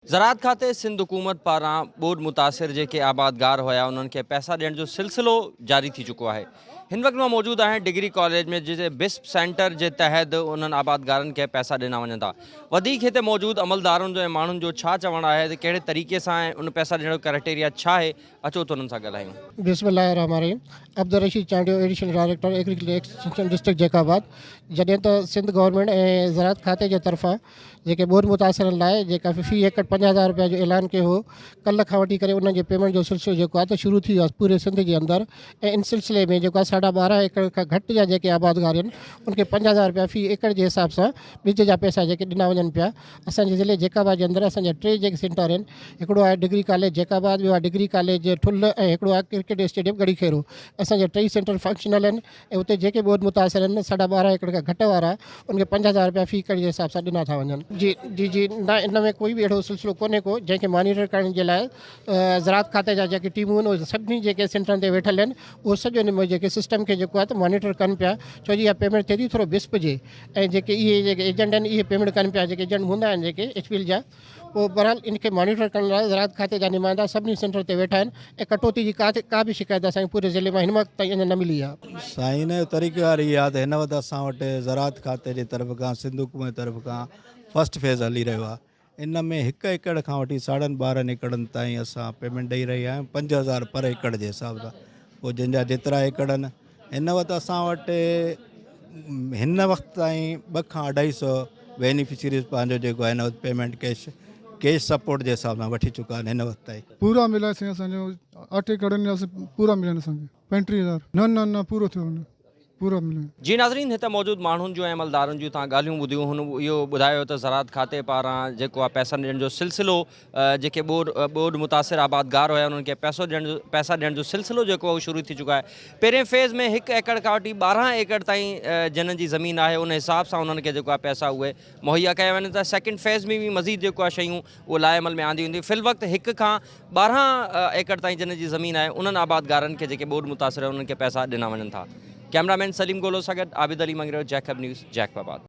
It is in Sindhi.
زراعت کاتي سنڌ حڪومت پاران ٻوڏ متاثر جيڪي آبادگار هيا انهن کي پئسا ڏيڻ جو سلسلو جاري ٿي چڪو آهي هن وقت مان موجود آهيان ڊگري ڪاليج ۾ جتي بسپ سينٽر جي تحت انهن آبادگارن کي پئسا ڏنا وڃن ٿا وڌيڪ هتي موجود عملدارن جو ۽ ماڻهن جو ڇا چوڻ آهي ته ڪهڙي طريقي سان ۽ ان پئسا ڏيڻ جو ڪرائيٽيريا ڇا آهي اچو ته انهن سان ڳالهايون. بسم الله الرحمٰن الرحيم Abdul Rasheed Chandio additional director agriculture extension district Jacobabad جڏهن ته سنڌ گورنمينٽ ۽ زراعت کاتي جي طرفان جيڪي ٻوڏ متاثرن لاء جيڪا في ايڪڙ پنجاهه هزار رپيا جو اعلان ڪيو هو ڪلهه کان وٺي ڪري انهن جي پيمينٽ جو سلسلو جيڪو آهي ته شروع ٿي ويو آهي پوري سنڌ جي اندر ۽ ان سلسلي ۾ جيڪو آهي ساڍا ٻارهن ايڪڙ کان گهٽ جا جيڪي آبادگار آهن ان کي پنجاهه هزار رپيا في ايڪڙ جي حساب سان ٻج جا پئسا جيڪي ڏنا وڃن پيا اسان جي ضلعي جيڪب آباد جي اندر اسان جا ٽي جيڪي سينٽر آهن هڪڙو آهي ڊگري ڪاليج جيڪب آباد ٻيو آهي ڊگري ڪاليج ٺل ۽ هڪڙو آهي ڪرڪيٽ اسٽيڊيم گڙي خيرو اسان جا ٽئي سينٽر فنڪشنل آهن ۽ اتي جيڪي ٻوڏ متاثر آهن ساڍا ٻارهن ايڪڙ کان گهٽ وارا انهن کي پنج هزار رپيا في ڪڙي جي حساب سان ڏنا ٿا وڃن. جي جي جي نه ان ۾ ڪوئي به اهڙو سلسلو ڪونهي ڪو جنهن کي مانيٽر ڪرڻ جي لاء زراعت کاتي جا جيڪي ٽيمون آهن اهي سڀني جيڪي سينٽرن تي ويٺل آهن اهو سڄو ان ۾ جيڪي سسٽم کي جيڪو آهي ته مانيٽر ڪن پيا ڇو جي اها پيمينٽ ٿئي ٿي ٿورو بسپ جي ۽ جيڪي اهي جيڪي ايجنٽ آهن اهي پيمينٽ ڪن پيا جيڪي ايجنٽ هوندا آهن جيڪي ايڇ پي ايل جا پوء بھرحال ان کي مانيٽر ڪرڻ لاء زراعت کاتي جا نمائندا سڀني سينٽرن تي ويٺا آھن ۽ ڪٽوتي جي ڪا ڪا به شڪايت اسان کي پوري ضلعي مان ھن وقت تائين اڃا نه ملي آھي. سائين ان جو طريقه ڪار ھي آھي ته ھن وقت اسان وٽ زراعت کاتي جي طرف کان سنڌ حڪومت جي طرف کان فرسٽ فيز ھلي رھيو آھي ان ۾ ھڪ ايڪڙ کان وٺي ساڙھن ٻارھن ايڪڙن تائين اسان پيمينٽ ڏئي رھيا آھيون پنج ھزار پر ايڪڙ جي حساب سان پوء جنھن جا جيترا ايڪڙ آھن هن وقت اسان وٽ هن وقت تائين ٻه کان اڍائي سو بينيفشريز پنهنجو جيڪو آهي وقت پيمنٽ ڪيش ڪيش سپورٽ جي حساب سان وٺي چڪا آهن هن وقت تائين پورا ملائي سائين اسان جو آٺ ايڪڙ ۾ اسان پورا مليا آهن اسان کي پنٽيهه هزار نه نه نه پورو ٿيو آهن پورا مليا جي ناظرين هت موجود ماڻهن جون ۽ عملدارن جون تان ڳالهيون ٻڌيون هن اهو ٻڌايو ته زراعت کاتي پاران جيڪو آهي پئسا ڏيڻ جو سلسلو جيڪي ٻوڏ متاثر آبادگار هيا انهن کي پئسو ڏيڻ جو پئسا ڏيڻ جو سلسلو جيڪو اهو شروع ٿي چڪو آهي پهرين فيز ۾ هڪ ايڪڙ کان وٺي ٻارهن ايڪڙ تائين جنن جي زمين آهي ان حساب سان انهن کي جيڪو آهي پئسا اهي مهيا ڪيا وڃن ٿا سيڪنڊ فيز ۾ به مزيد جيڪو آهي شيون اهو لاء عمل ۾ آنديون وينديون في الوقت هڪ کان ٻارهن ايڪڙ تائين جنن جي زمين آهي انهن آبادگارن کي جيڪي ٻوڏ متاثر انهن کي پئسا ڏنا وڃن ٿا ڪيمرا مين سليم گولو سان گڏ عابد علي منگريو جيڪب نيوز جيڪب آباد